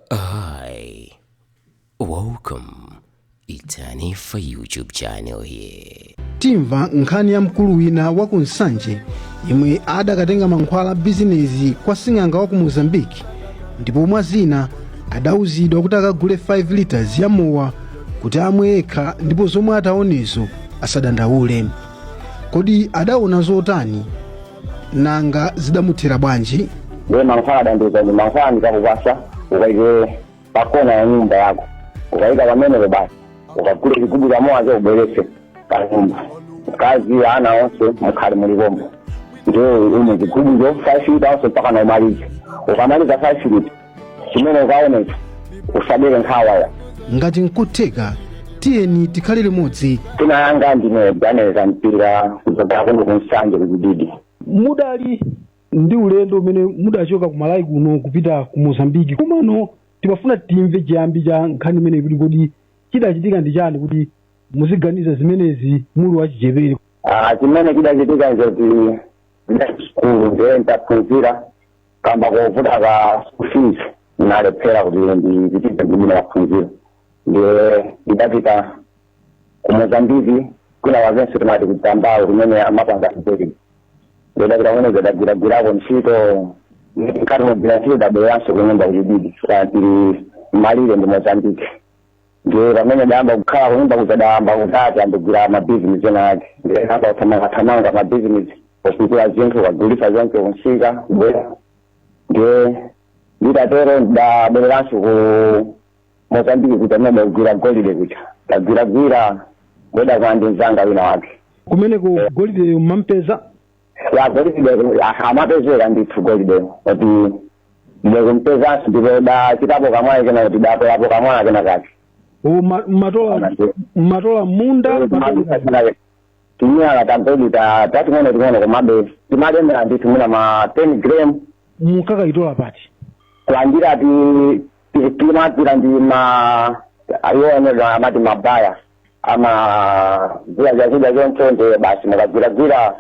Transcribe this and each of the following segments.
Hi, welcome. It's Hanifa YouTube channel here. timva nkhani ya mkulu wina wa ku nsanje yemwe adakatenga mankhwala a bizinezi kwa sing'anga wa ku mozambiki ndipo mwa zina adauzidwa kuti akagule 5 liters ya mowa kuti amwe yekha ndipo zomwe ataonezo asadandaule kodi adaona zotani nanga zidamuthera bwanji ndiye mankhwala adandiuza kuti mankhwala ndikakupasa ukaike pakona ya nyumba yako ukaika pamenepo basi ukagule chigubu chamowacho ubweretse pa nyumba mkazi ana onse mukhale muli pompo ndiye umwe chigubucho five lita onse mpaka na umalize ukamaliza five lita chimene ukaonecho usadere nkhawa ayi ngati nkutheka tiyeni tikhale limodzi dzina langa ndine Ganiza mpira kuchokera kuno ku nsanje ku Chididi mudali ndi ulendo umene mudachoka ku malawi kuno kupita ku mozambiki komano timafuna timve chiyambi cha nkhani imeneyi kuti kodi chidachitika ndi chani kuti muziganiza zimenezi muli wachichepere Ah, chimene chidachitika nzoti sukulu ndiye ntaphunzira kamba kovuta ka school fees nalephera kuti ndipite ndi maphunziro ndiye ndidapita ku mozambiki kwinakwakenso timati kudzambawo kumene amapanga zibeli ndidapita kumene ndidagwiragwirako ntchito nkati mogwira ntchito dabweranso kunyumba ku Chididi chifukwa tili malire ndi mozambiki ndiye pamene dayamba kukhala kunyumba kuja dayamba kuti ndiyambe kugwira mabizinesi ena ake ndiye dayamba kuthamangathamanga mabizinesi opikula zinthu kagulisa zonse kunsika kubwera ndiye nditatero ndabwereranso ku mozambiki kuja amene akugwira golide kuja ndagwiragwira ndidakumana ndi mzanga wina wake kumeneko golideyo mmampeza ya golide de- ah, amapezeka ndithu golide kuti ndikumpezanso ndipo dachitapo kamwayi kena kuti datolapo kamwala kena kake o ma- matola matola mmunda matola- timiyala ta golide ta- tating'ono ting'ono komabe timalemera ndithu mwina ma 10 gram mukakayitola pati kulandira ti ti- timatira ndi ma ayoonedwa amati mabaya amagula zakudya choncho ndiye basi mukagwiragwira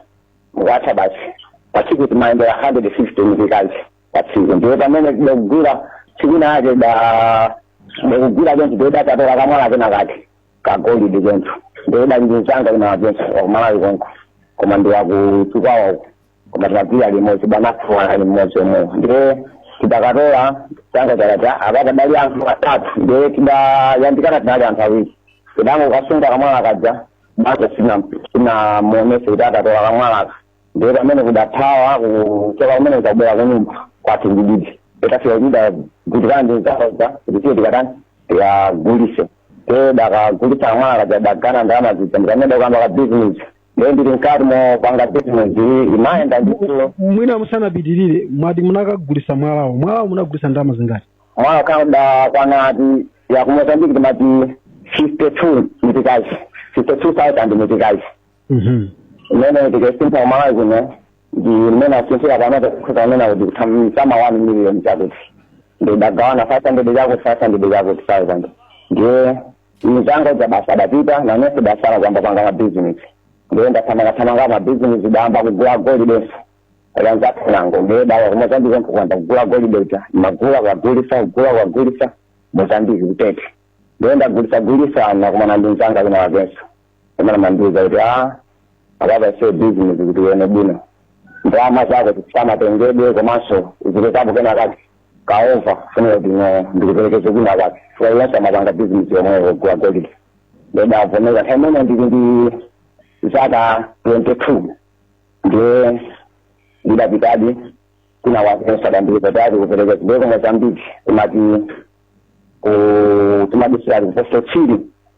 mukatha basi pa tsiku timayendera hundred fifty meticais pa tsiku ndiye pamene tidagwira tsiku linalake da ndikugwira choncho ndiye datatola kamwala kena kake ka golide choncho ndiye dali ndinzanga wina wachenso wakumalawi konko koma ndiwakuchikwawa uko koma tinagwira limodzi bwana wathu anali mmodzi omwewo ndiye tidakatola tanga chakata apa padali anthu atatu ndiye tidayandikana tinali anthu awiri tidangokasunga kamwala kaja basi sinamuonese kuti a tatola kamwalaka ndiye pamene kudathawa kuchoka kumeneko dabwera kunyumba kwathu ndiyedi titafika tidagwirizana ndi nzanga uja kuti tiye tikatani tikagulise nde dakagulisa kamwala kaja dagawana ndalama zija ndi pamene dayamba ka bizinesi ndiye ndili mkati mopanga business iyi imayenda ndithu mwina musanapitirire mwati munakagulisa mwalawo mwalawo munagulisa ndalama zingati mwalawo kadakwana ati ya kumozambiki timati 52 mitikazi 52000 mitikazi Mhm. imene tikaisintha kumalawi kuno ndi mmene asinthira panopa kukhuza amene kuti kutama 1 million chakuti ndidagawana 500 chakuti 500 chakuti 1000 ndiye mzanga uja basi adapita nanenso dasala kuyamba panga mabizinesi ndiye ndathamangathamanga mabizinesi dayamba kugula golidenso kwa anzathu nango ndiye dawa kumozambiki nkuyamba kugula golide uja magula kukagulisa kugula kukagulisa mozambiki kutete ndiye ndagulisagulisa nakumana ndi mzanga wina wakenso amene amandiuza kuti a apapa show business kuti uone bwino ndalama zako zisamatengedwe komanso zipezekapo kena kake kaova kufunira kuti no ndikuperekeze kwina kake fukwa iyenso amapanga business yomweyo kugula golide ndidavomera nthawi imene ndili ndi zaka 22 ndiye ndidapitadi wina wakenso adandiuza kuti ali kuperekeza ndiye ku mozambiki kumati kumadisirati ku posto chiri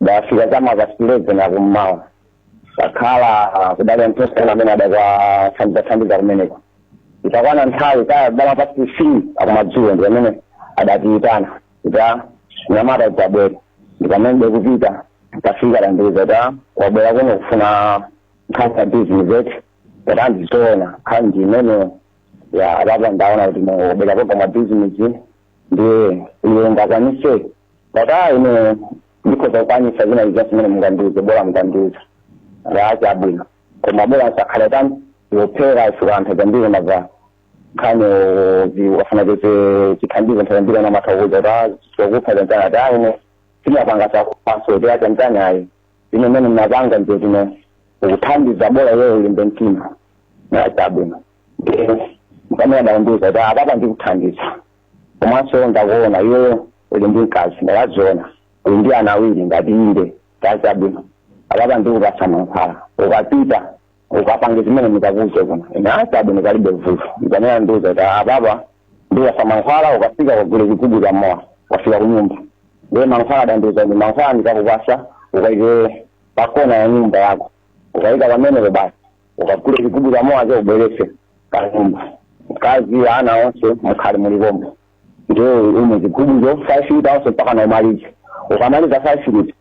ndafika chama pasi leveni akummawa takhala kudali anthu osiyana amene adakathandizathandiza kumeneko itakwana nthawi kaya chama pasi fii akumadzulo ndi pamene adatiyitana kuti nyamata tabwera ndi pamene dekupita tafika dandiuza ta wabwera kuno kufuna nkhani ya bizinesi eti dati a ndizoona nkhani ndi imeneyo a apapa ndaona kuti mubwera koga mwa bizinesi ndiye iwe ungakwanise Dati a ine ndikhoza kukwanisa zina zilizonse zimene mungandiuze bola mukandiuza a chabwino koma bola isakhale tani yophera fukwa nthawi zambiri mamva nkhani zi- ukafuna kuti chithandizo nthawi zambiri amatha kukuuza kuti "Ah, zokupha zantani ati "Ah, ine simapanga zakuphanso kuti kaya zantani ayi ine mene mnapanga ndio tino ukuthandiza bola iweyo ulimbe mtima a chabwino mpamene adandiuza kuti apapa ndikuthandiza komanso ndakuona iweyo uli ndi mkazi ndawaziona uli ndi ana awiri ndati inde ati chabwino apapa ndikupasa mankhwala ukapita ukapange zimene ndikakuuze kuno ine a chabwino palibe vuto ndi pamene adandiuza kuti apapa ndikupasa mankhwala ukafika ukagule chigubu cha mowa ukafika kunyumba ndiye mankhwala adandiuza ndi mankhwala ndikakupasa ukaike pakona ya nyumba yako ukaika pamenepo basi ukagule chigubu cha mowacho ubwerese pa nyumba mkazi ana onse mukhale muli pompo ndiye umwe chigubucho five lita yonse mpakana umalize ukamaliza five lita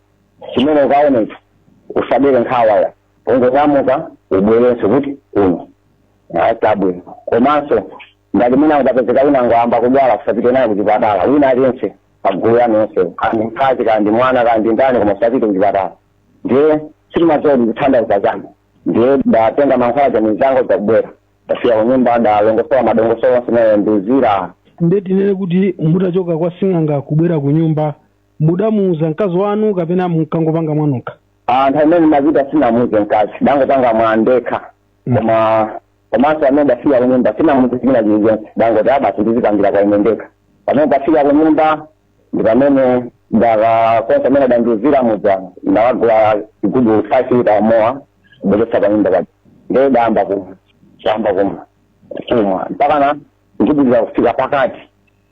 chimene ukaonecho usadere nkhawa ayi ungonyamuka ubwerenso kuti uno atabwino komanso ngati mwina utapezeka wina wangoyamba kudwala usapite naye kuchipatala wina aliyense pagulu lanu nonse kaya ndi mkazi kaya ndi mwana kaya ndi ndani koma usapite kuchipatala ndiye sitimazodi kuthandauza chanu ndiye ndatenga mankhwala cha mizango zakubwera ndafika kunyumba ndalongosola madongosolo onse anandiuzira nde tinene kuti mutachoka kwa sing'anga kubwera ku nyumba mudamuuza mkazi wanu kapena munkangopanga mwanokha a nthawi imene ndimapita sinamuuze mkazi ndangopanga mwandekha koma komanso pamene ndafika kunyumba sinamuuze china chilichonse ndangoti a basi ndizipangira kwa ine ndekha pamene ndafika kunyumba ndi pamene ndakakonza mmene adandiuzira muja ndakagula chigubu five lita ya mowa kubweretsa pa nyumba paja ndiye ndayamba kumwa ndayamba kumwa kumwa mpakana chigubu chija kufika pakati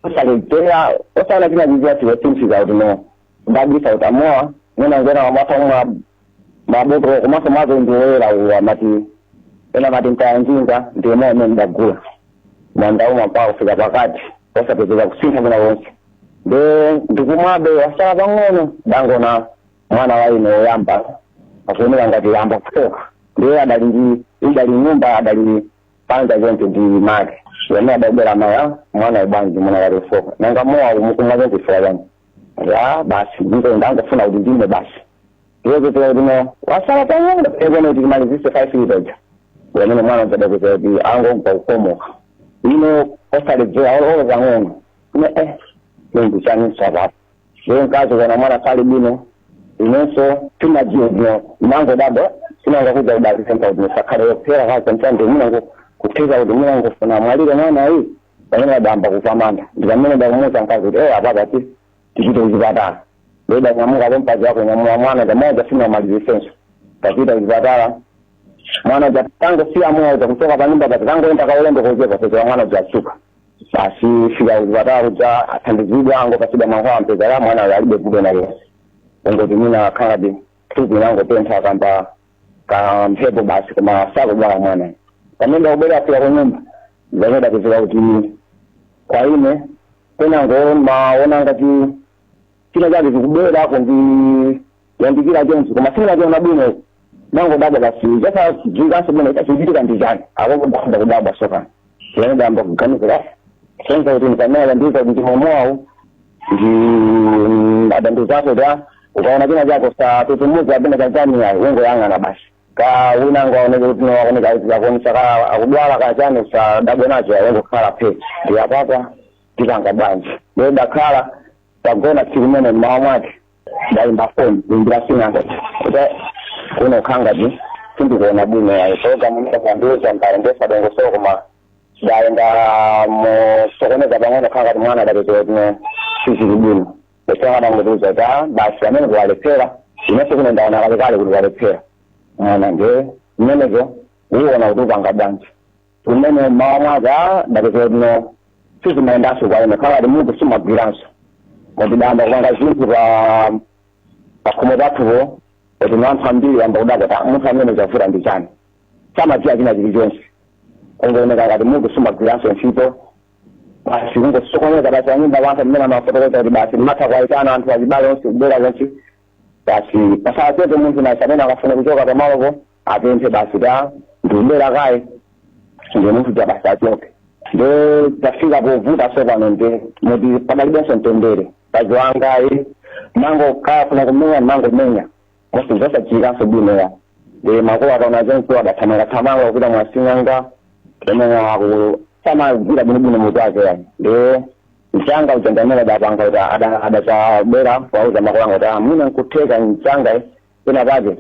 osaledzera osamva china chilichonse chotsimikiza kuti no ndabisa kuti amowa mwina ngena wamwata umwa mabotolo komanso mazo ndi woyera uwo amati ena amati ntayanjinga ndiye mowa umene ndagula ndaumwa mpaka kufika pakati osapezeka kusintha kwina konse nde ndikumwabe wasala pang'ono ndangoona mwana wa ine woyamba akuoneka ngati wayamba kufooka ndiye adali ndi idali nyumba adali panja choncho ndi make amene adabwera maya mwanayu bwanji mwana walefuka nanga mowa umukumwa choncho chifukwa chani ya basi ndipo ndangofuna kuti ndimwe basi iwe kutoa kuti no wasala pang'ono pekone kuti ndimalizitse five lita ija pamene mwana uja ada kutoa kuti wangoyamba kukomoka ine osaledzera olo pang'ono ne eh nde ndi chaninso apapo ndiye mkazi kuona mwana sali bwino inenso sindimadziwa bwino ndinangodabwa sing'anga kuja kudalisenta kuti musakhale yophera kazi mtande munango kutheka kuti munangofuna amwalire mwana ayi pamene adayamba kupamanda ndi pamene ndakumuuza mkazi kuti eyi apapa ti tipite kuchipatala nde tanyamuka pompo mkazi wakunyamula mwana mowa uja sinamalizitsenso tapita kuchipatala mwana uja tangosiya mowa uja kuchoka panyumba paja tangoyenda kaulendo kochepa kupezeka mwana uja wadzuka basi tafika kuchipatala kuja athandizidwa angopatsidwa mankhwala ampezera mwana uyu alibe vuto na lero angoti mwina akhalabe thupi langotentha kamba ka mphepo basi koma sakudwala mwana pamene ndakubwera ndafika kunyumba ndakudapezeka kuti kwa ine ndinangomaona ngati china chake chikubwera kundi yandikira chonchi koma sindinachione bwino nangodabwa basi chasadziwikanso bwino chachichitika ndi chani apapa ndakhoza kudabwa sopano ndipamene ndayamba kuganizira sing'anga kuti ndipamene adandiuza kuti chimwemowawo nde adandiuzapo ta ukaona china chake usatutumuke kapena chachani ayi ungoyang'ana basi kaya wina angaoneke kuti akuoneka akuonesa kaya akudwala kaya chani usadabwe nacho ayi ungokhala phe ndiye apapa tipanga bwanji lero takhala tagona tsiku limene mmawa mwake ndaimba foni kuimbira sing'anga kuti kuno kukhangati sindikuona bwino yayi pulogalamu munandiuza mbali ndiyosalongosoka koma ndaenda mosokoneza pang'ono kukhangati mwana adatengera kuno sizili bwino e sing'anga adangotiuza kuti basi pamenepo walephera inenso kuno ndaona kalekale kuti walephera mwana nde zimenezo uone kuti upanga bwanji pamene mmawa mwake a ndapeza kuno sizimayendanso kwa ine kukhala ngati mutu sumagwiranso moti ndayamba kupanga zinthu pa pakhomo pathupo kuti anthu ambiri ayamba kudabwa kuti munthu ameneyu zavuta ndi chani samadziwa china chilichonse kungooneka ngati mutu sumagwiranso ntchito basi kungosokoneza basi anyumba anza mmene amafotokoza kuti basi mmatha kuwaitana anthu achibale onse kubwera zonse basi pasapezeke munthu naye amene akafuna kuchoka pamalopo apemphe basi ta ndikubwera kaye ndikutuluka basi achoke nde tafika povuta sopano nde moti padalibenso mtendere mkazi wangayo ndimangofuna kumenya ndimangomenya basi zosachitikanso bwino ayi nde makolo ataona zonse adathamanga thamanga kupita mwasing'anga kumenya aku samagwira bwinobwino mutu wake yani nde mkazanga kuchangamira adapanga kuti adadzabwera kuwauza makolo anga kuti mwina nkutheka mwamuna wanga pena pake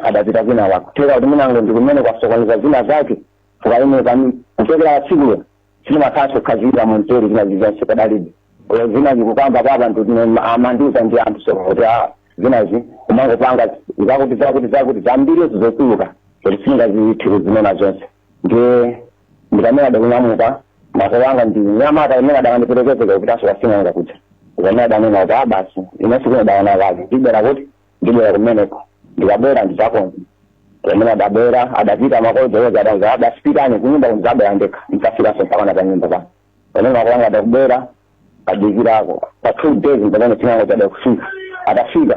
adapita kwina kwake kutheka kuti mwina ndi kumene kwasokoneza zina zake chifukwa ine pamene kuchokera patsikulo sindimakhalanso kukhazikika mumtendere zina zizonse padalibe olo zina ndikukamba panopa ndine amandiuza ndi anthu sopano kuti a zinazo umangopanga zakuti zakuti zakuti zambiri zimatuluka kuti sindingathe kuzinena zonse ndiye ndipamene adanyamuka makolo anga ndi mnyamata amene adakandiperekeza kupitanso kwasing'anga kuja ndipamene adanena kuti a basi inenso kuno ndaona kale ndibwera kuti ndibwera kumeneko ndikabwera ndizakonza pamene adabwera adapita makolo kuwauza adanza adati pitani kunyumba ndizabwera ndekha ndikafikanso mpakana pa nyumba pa pamene makolo anga adabwera adadikirako pa two days pamene sing'anga uja adafika atafika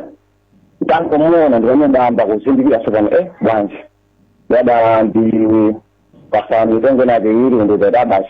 nditangomuona ndipamene ndidayamba kuzindikira sopano e bwanji adandipasa mitengo inaitwiri ndidati a basi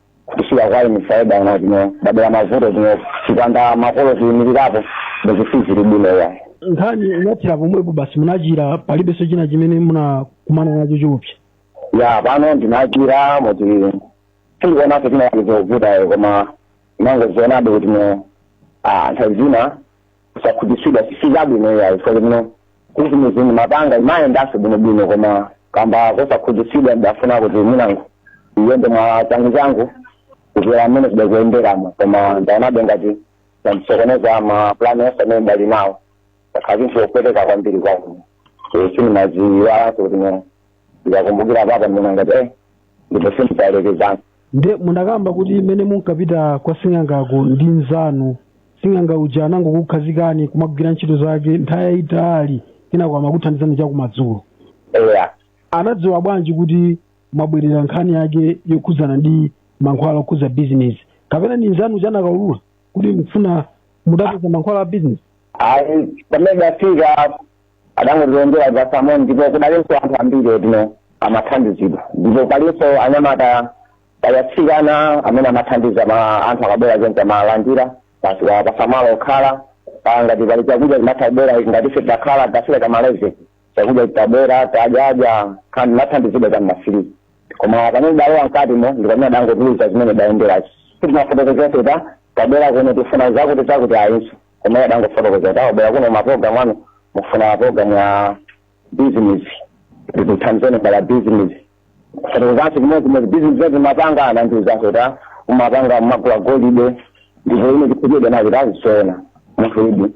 kufika kwa ine phaida yake ndinabadwira mavuto zino chipanda makolo kuyimirirapo ndikuti ziri bwino yayi nkhani inathera pomwepo basi munachira palibenso china chimene munakumana nacho chiopsa ya pano ndinachira moti sindikuonaso china chizovutayo koma ndimangozionabe kuti no ah, nthawi zina kusakhutitsidwa sizabwino iyayi chifukwa chimene bizinezi mapanga imayendanso bwinobwino koma kamba kosakhutitsidwa ndafuna kuti mwinango iyende mwa changu changu kuposera mmene zidakuyenderamo koma ndaonabe ngati zandisokoneza mapulani onse amene ndinali nawo chakhala chinthu chopweteka kwambiri kwangu sindimaiwalanso kuti ndikakumbukira apa ndimangoti eh ndipo sindidalekezana nde mudakamba kuti mmene munkapita kwa sing'angako ndi mnzanu sing'anga uja anangokukhazikani kumagwira ntchito zake nthawi yayitali kenako amakuthandizani chakumadzulo eya anadziwa bwanji kuti mwabwerera nkhani yake yokhudzana ndi mankhwala okhudza bizinesi kapena ndi mnzanu uja anakaulula kuti mufuna mutapeza mankhwala a bizinesi ayi pamene ndafika adangotilonjera pa samoni ndipo kudalinso anthu ambiri otino amathandizidwa ndipo palinso anyamata ya atsikana amene amathandiza anthu akabwera choncho amalandira basi kuwapatsa malo okhala pa ngati pali chakudya chimatha kubwera ngati ife tidakhala tidafika mmawa eti chakudya chitabwera tadya kenako nathandizidwa cha mmadzulo koma pamene ndidalowa mkatimo ndi pamene adangotiuza zimene tidayenderazi sitinafotokoze kuti tabwera kuno tifuna zakuti zakuti ayinso koma iye adangofotokoza kuti mwabwera kuno maprogramu anu mukufuna maprogramu a business ndikuthandizeni mbala business kufotokozanso chimodzimodzi business yoti mumapanga anandiuzanso kuti ah, umapanga umagula golide ndipo ine ndikukhutitsidwa nacho kuti zoona munthuyudi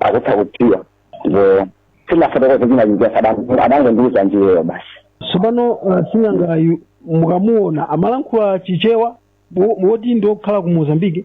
akutha kudziwa ndipo sindinafotokoze china chilichonse adango- adangondiuza ndi iyeyo basi tsopano uh, sing'angayu mukamuona amalankhula chichewa wo- woti ndi okhala ku mozambike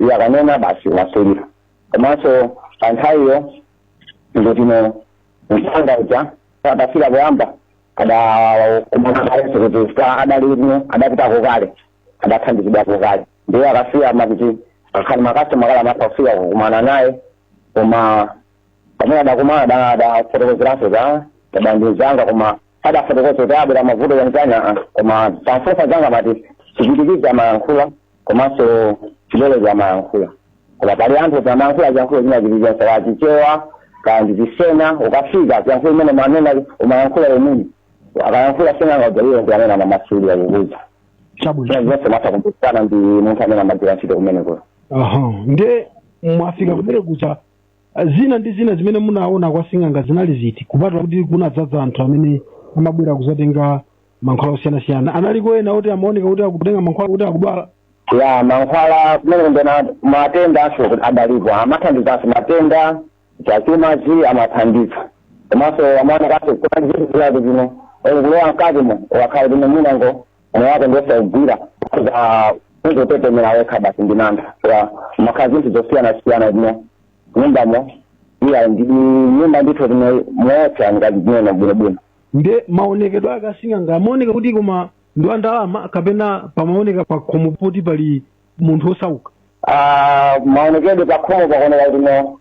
iye akanena basi amamasulira komanso pa nthawiyo ndikutino mnzanga uja adafika poyamba adakumana kalenso kuti adali atino adapitako kale adathandizidwako kale ndiye akafika amakuti akakhala makasitoma kale amatha kufika kukumana naye koma pamene adakumana ada- adafotokozeranso za mavuto a mnzanga koma adafotokoza kuti abwera mavuto a mnzanga koma ndamfunsa mnzanga amati chipwitikizi amayankhula komanso chilolo chake amayankhula koma pali anthu oti amayankhula chiyankhulo china chilichonse kaya chichewa kaya ndi chisena ukafika chiyankhulo chimene mmanena umayankhula ndiye mmene akayankhula sing'anga uja iwo ndi amene amamasulira kukuuza chabwino zina zonse umatha kumvana ndi munthu amene amagwira ntchito kumenekoyo aha nde mwafika kumene kuja zina ndi zina zimene munaona kwa sing'anga zinali ziti kupatula kuti kunadzadza anthu amene amabwera kuzatenga mankhwala osiyanasiyana analiko ena oti amaoneka kuti akutenga mankhwala kuti akudwala ya mankhwala kumene ndi a matendanso kuti adalipo amathandizanso matenda zachumazi amathandiza komanso amaonekanso kuti zinthu zake zina kulowa mkatimo umakhala kuti mwinango moyo wako ndi osaugwira umangotetemera wekha basi ndi mantha ya mumakhala zinthu zosiyanasiyana m'nyumbamo iya ndi nyumba ndithu zinu zoopsa ngati zimene bwinobwino nde maonekedwe ake asing'anga amaoneka kuti koma ndi wa ndalama kapena pamaoneka pakhomo poti pali munthu osauka Ah, maonekedwe pakhomo pakuoneka kuti no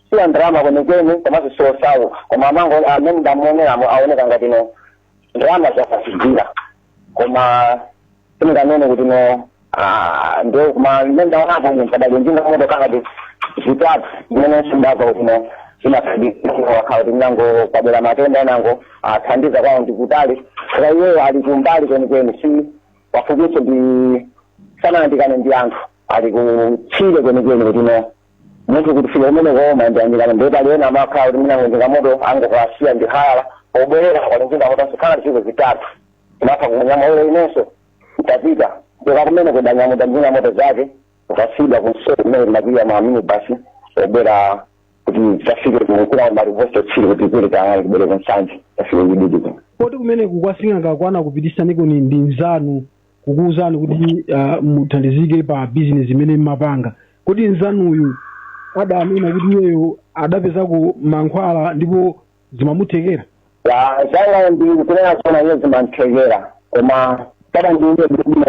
si wa ndalama kwenikweni komanso si osauka koma mmene ndamuoneramo aoneka ngati no ndalama amazigwira koma simunganene kuti no ah, ndio koma mmene ndaonapo munthu adali njinga moto kaya zitatu zimene ndidamva kuti no imathandiza kukhala kuti mwinango kwabwera matenda enango athandiza kwawo ndi kutali koma iyeyo ali kumbali kwenikweni si pafupiso ndi sanayandikane ndi anthu ali kutchire kwenikweni kuti no munthu kuti afike kumene koma ndi oyandikana ndiye pali ena amakhala kuti mwinango njinga moto angokasiya ndi hayala pobwerera anali ndi njinga moto zilipo zitatu amatha kunyamula inenso nditapita kumene adandinyamula njinga moto zake ukasida kunso kumene kumapiya ma minibasi obwera kuti tafike kukula marivosto chiri kuti kuli tayari kubwere ku Nsanje tafike kudidi kuno poti kumeneku kwa sing'anga anakupititsaniko ndi nzanu kukuwuzani kuti ah, muthandizike pa bizinesi imene mmapanga kodi nzanuyu adanena kuti iyeyo adapezako mankhwala ndipo zimamuthekera ya changa ndikunena zona iye zimamthekera koma sadandiuze kuti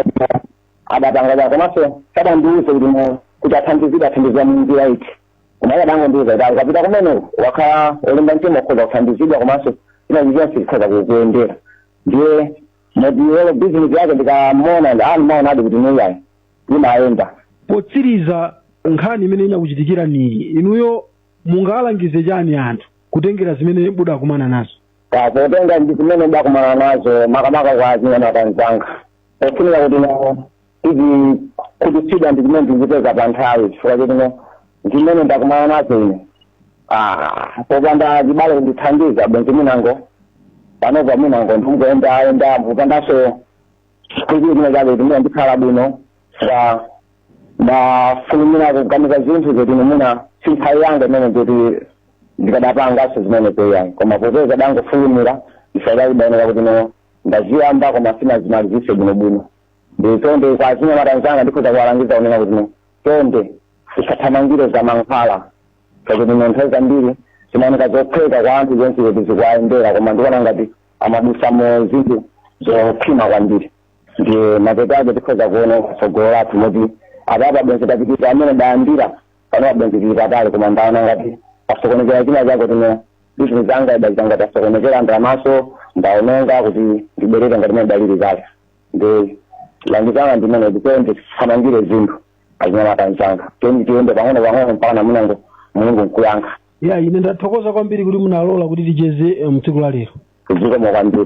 adapanga chani komanso sadandiuze kuti mu- kuti athandizidwe adathandizidwa mu njira iti koma iye adangondiuza kuti ayi ukapita kumeneko ukakhala olimba mtima ukhoza kuthandizidwa komanso china chilichonse chikhoza kukuyendera ndiye Ngati iweyo business yake ndikamuona ndimaonadi kuti no iyayi imayenda. Potsiriza nkhani imene inakuchitikiraniyi, inuyo mungawalangize chani anthu kutengera zimene mudakumana nazo? Ah potenga ndi zimene ndakumana nazo makamaka kwa azinyamata anzanga. Pofunika kuti no tizikhutitsidwa ndi zimene tizipeza pa nthawi chifukwa choti no zimene ndakumana nazo ine Ah, popanda achibale kundithandiza bwenzi mwinango panopa mwinango ndingoyendayenda kupandanso kuti zimene zake zimene ndikhala bwino ndidafulumira kuganiza zinthu zoti mwina si nthawi yanga imene kuti ndikadapanganso zimene eya koma popeza ndidangofulumira ndisadaonera kuti no ndaziyamba koma sindinazimalizitse bwinobwino ndiye chonde kwa achinyamata anzanga ndikhoza kuwalangiza kunena kuti no chonde tisathamangire za mankhwala pakuti no nthawi zambiri zimaoneka zophweka kwa anthu zonse kuti zikuwayendera koma ndikuona ngati amadusa mu zinthu zokhwima kwambiri ndiye mapeto ake tikhoza kuona tsogolo lathu moti apapa bwenzi tapitisa amene dayambira panopa bwenzi tili patali koma ndaona ngati pasokonekera china chake business yanga idachita ngati yasokonekera ndalamaso ndaononga kuti ndibwerere ngati mene ndalili kale ndiye langizo langa ndimene ndikuende tisathamangire zinthu achinyamata anzanga teni tiende pang'ono pang'ono mpaka na munango mulungu nkuyankha ayi ine ndathokoza kwambiri kuti munalola kuti ticheze eh, mtsiku la lero zikomo kwambiri